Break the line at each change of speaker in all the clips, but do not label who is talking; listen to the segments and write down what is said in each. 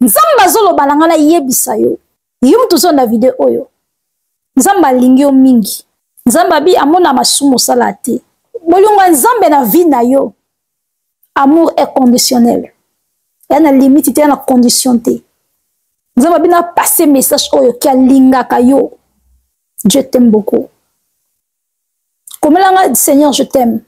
nzambe azoloba na ngai nayebisa yo yo moto ozo na video oyo nzambe alingi yo mingi nzambe abi amona masumu osala te bolingo ya nzambe na vie na yo amour est conditionnel ya na limite te ya na condition te nzambe abi na passe message oyo ki alingaka yo dieu t'aime beaucoup komelanga seigneur je t'aime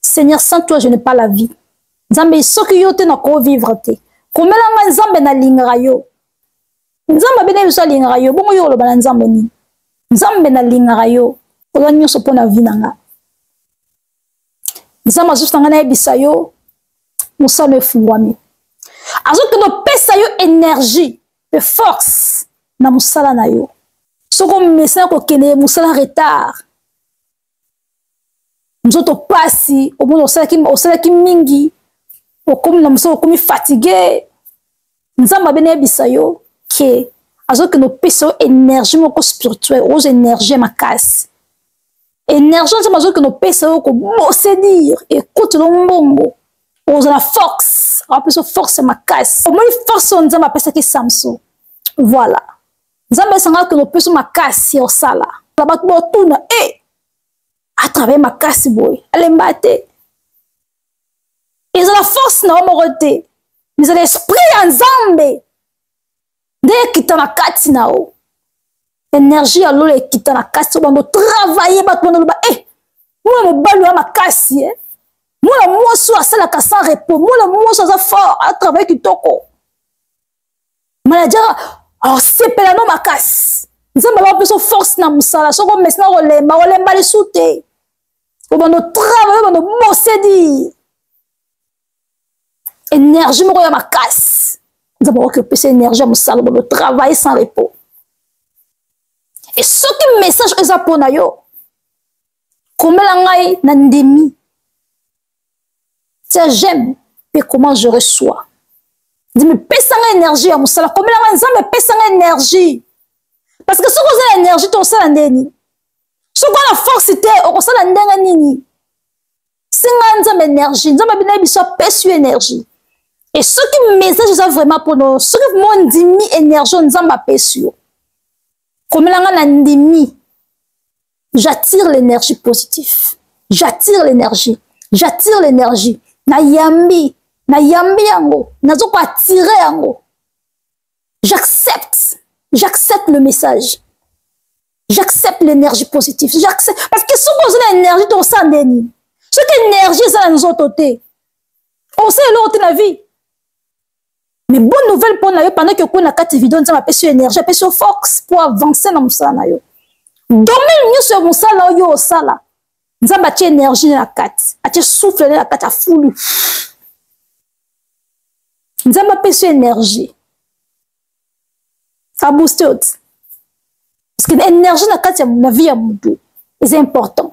seigneur sans toi je n'ai pas la vie nzambe soki yo te nakoki vivre te komela ngai nzambe nalingaka yo nzambe abene biso alingaka yo bongo yo oloba na nzambe nini nzambe nalingaka yo oza nyonso mpo na vi na ngai nzambe azosuta ngai nayebisa yo mosano efungwami azokende opesa yo energie mpe force na mosala na yo soki omesana kokende mosala retard nzoto pasi omoni osalaki osalaki mingi okomi na mosala okomi fatigue nzambe abe nayebisa yo ke azokende opesa yo énergie moko spirituel okozwa énergie ya makasi énergie nzambe azokende opesa yo kobose dire ekotelo mbongo okozala force apesa force ya makasi omoni force oyo nzambe apesaki samson voilà nzambe esanga kende opeso makasi ya osala na bato botuna e eh! atravaille makasi boye alemba te ezala force na yo moko te ezala esprit ya nzambe nde ekita na kati na yo energie ya lola ekita na kati so bando travaille bato bando loba e eh! mwana mobali oya makasi e eh! mwana mwasi oyo asalaka sans repos mwana mwasi aza fort atravaille kitoko manajaka asepela no makasi nzambe bapesa force na mosala soki omesina kolemba kolemba lisu te obanda otrava yo banda obosedi énergie moko ya makasi nzambe akoki opesa énergie ya mosala obanda otravaille sans repos e soki message eza mpo na yo komela ngai na ndimi tia j'aime mpe comment je reçois ndimi pesa nga énergie ya mosala komela nga nzambe pesa nga énergie parce que soki oza na énergie to osala ndeni soki oza na force te okosala ndenge nini singa nzambe énergie nzambe abina ye biso apesi yo énergie e soki message eza vraiment mpo no soki mo ndimi énergie oyo nzambe apesi yo komela nga na ndimi j'attire l'énergie positif j'attire l'énergie j'attire l'énergie nayambi nayambi yango nazo ko attire yango j'accepte j'accepte le message j'accepte l'énergie positive j'accepte parce que soki oza na énergie tokosala nde nini soki énergie eza na nzoto te osala eloko te na vie mais bonne nouvelle mpo na yo pendant que okoi na kati ya video nzambe apesi yo énergie apesi yo force mpo avance na mosala na yo domaine nyonso ya mosala oyo osala nzambe atie énergie na kati atie souffle na kati afulu nzambe apesi yo énergie abooste yo ti parce que énergie na kati na vie ya motu eza important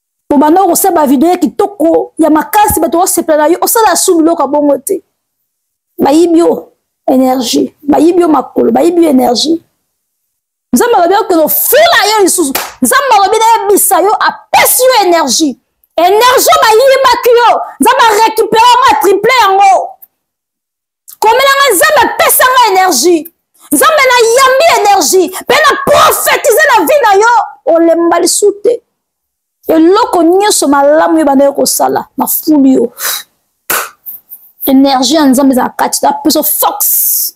obanda okosala bavideo ya kitoko ya makasi bato osepela na yo osala su biloko ya bongo te bayibi yo energie bayibi yo makolo bayibi yo energie nzambe alobi okende ofula yo lisusu nzambe alobi nayebisa yo apesi yo energie energie bayibaki yo nzambe arekipere yango atriple yango komela ngai nzambe apesa ngai energie nzambe nayambi energie mpe na profetize na vi na yo olemba lisu te eloko nyonso malamu yo bandaki kosala na fulu yo energie ya nzambe ezala kati na peso force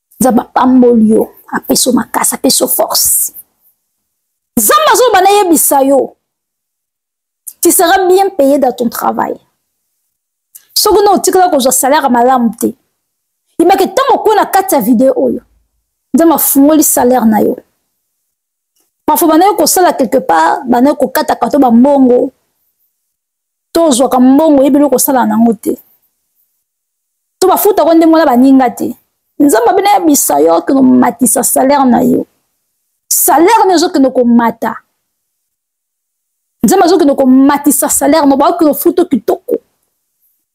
nzambe apamboli yo apesi yo makasi apesi yo force nzambe azoloba nayebisa yo tu seras bien payé dans ton travail soki na otikala kozwa salaire malamu te yebaki ntango okwe na kati ya video oyo nzambe afungoli salaire na yo parfois bandaki kosala quelque part bandaki kokataka to bambongo to ozwaka mbongo oyebi eloko osala nango te to bafutako ndenge wana baninga te nzambe abina yebisa yo okende komatisa salaire na yo salaire na ezokende komata nzambe azokende komatisa salaire na baokende ofuto kitoko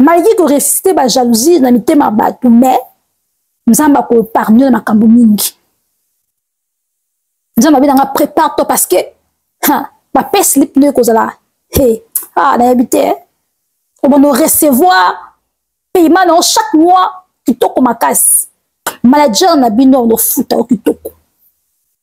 malgré ko resiste ba jalousie na mitema bato mais nzambe akoparmio na makambo mingi nzambe abe nanga prépare toi parce que bapesi lipi nde ekozala he ah nayebi te eh. obanda orecevoir paiement na yo chaque mois kitoko makasi manager na bino ofuta yo kitoko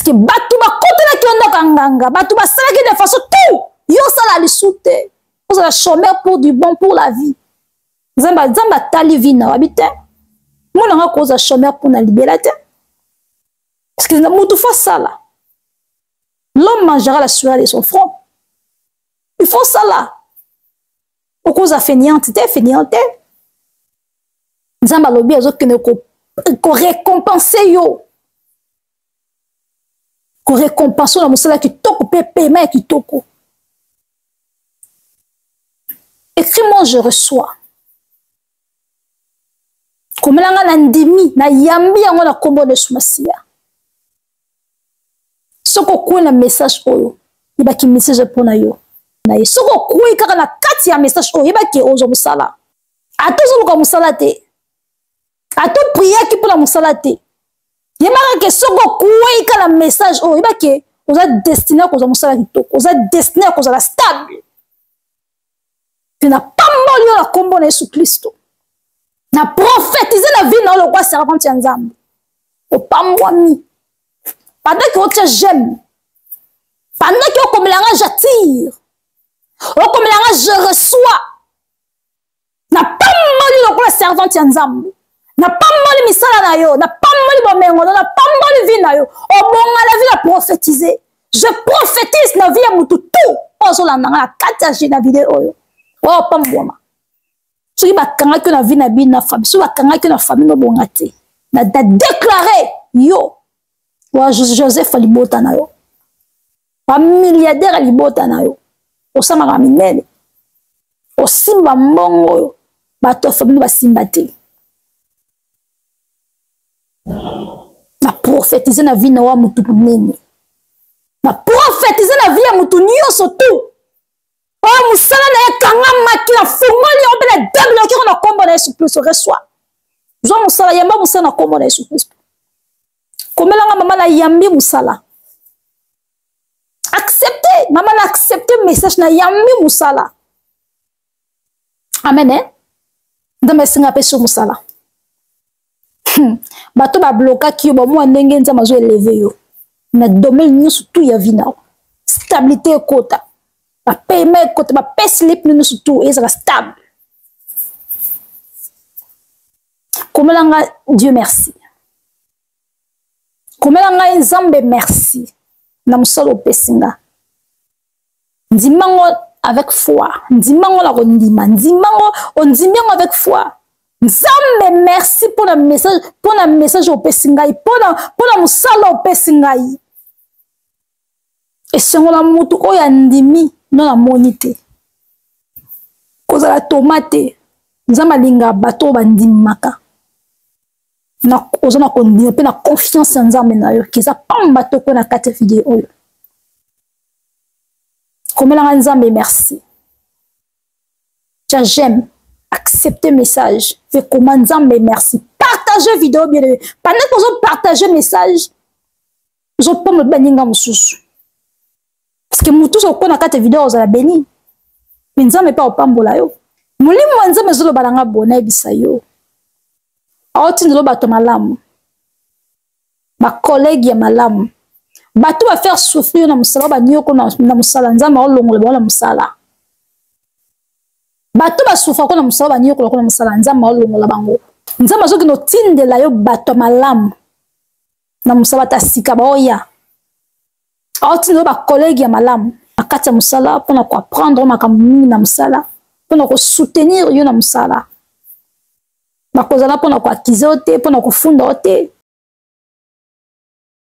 parceke bato bakotelaki yo ndako ya nganga bato basalaki de façon tout yo osala lisu te ozala chômeur pour du bon pour la vie nzambe nzambe atali vi na wabi te mona nga kozwa chômeur mpo na libela te parce que motu fo asala l'homme mangera la sueur de son front il faut osala okoza feniante te feniante te nzambe alobi azokende korekompense ko yo korekompense na mosala kitoko mpe pema ya kitoko écrit moi je reçois komela ngai na ndimi nayambi yango na nkombo na yesu masiya soki okwei na message oyo yebaki message mpo na yo na ye soki okwei kaka na kati ya message oyo yebaki ozwa mosala ata ozoluka mosala te ata opriaki mpo na mosala te yebaka ke soki okwei kaka na message oyo yebaki oza destine ya kozwa mosala kitoko oza destine ya kozala stable mpe napamboli yo na nkombo na yesu klisto na profetize na vie na yo lokola servante ya nzambe opambwami pandaki otya j'aime pandaki okomela nga j'attire okomela nga je reçois napamboli lokola servante ya nzambe napamboli misala na yo napamboli bomengo na napamboli vi na yo obonga na vi na profetize je prophétise na vie ya motu tout oyo azolanda nga na kati ya na video oyo oyo opambwama soki bakangaki yo na vie na bino na famille soki bakangaki yo na famille nobonga te na deklare yo wa joseph libota na yo bamilliardaire ya libota na yo osamaka minene osimba mbongo oyo bato ya famille basimba te na profetize na vie na wa motu monene na profetize na vie ya motu nyonso tu oyo mosala na ye ekangamaki na fungoli yango mpe na debile okeko na nkombo na yesu kristo reswa zwa mosala yamba mosala na nkombo na yesu kristo komela nga mama na yambi musala accepte mama na accepte message na yambi musala amen eh? nzambe asinga apesi yo mosala hmm. bato bablokaki yo bamwa ndenge nzambe azo eleve yo na domaine nyonso tu ya vi na yo stabilité ekota bapayema ekota bapesi lipi nyonso tu ezala stable komela nga dieu merci komela ngai nzambe merci na mosala opesi nga ndima ngo avec foi ndima ngo na kondima ndima ngo ondimi yango avec foi nzambe merci mpo na message mpo na message opesi ngai mpo na mosala opesi ngai esengo na motu oyo andimi no namoni te kozala toma te nzambe alinga bato oyo bandimaka oza na kondima mpe na confiance ya nzambe na yo keza pamba toko na kati ya video oyo komelanga nzambe merci ja j'aime accepte message mpe koma nzambe merci partage video bien aimé pendant tozo partage message ozopona baninga mosusu parceke motu oso okona kati ya video ozala beni me nzambe mpe opambola yo molimo ya nzambe ezoloba na nga bo nayebisa yo aotindelo bato malamu bakolege ya malamu bato bafaire souffrir yo na mosala banioko na mosala nzambe aolongola bango na mosala bato basufa ko na mosala banioko loko na mosala nzambe aolongola bango nzambe azokende otindela yo bato ya malamu na mosala ta sika baoya aotindelo bakolege ya malamu na kati ya mosala mpona koapprendre makambo mingi na mosala mpona kosoutenir yo na mosala bakozala mpona koakize yo te mpona kofunda yo te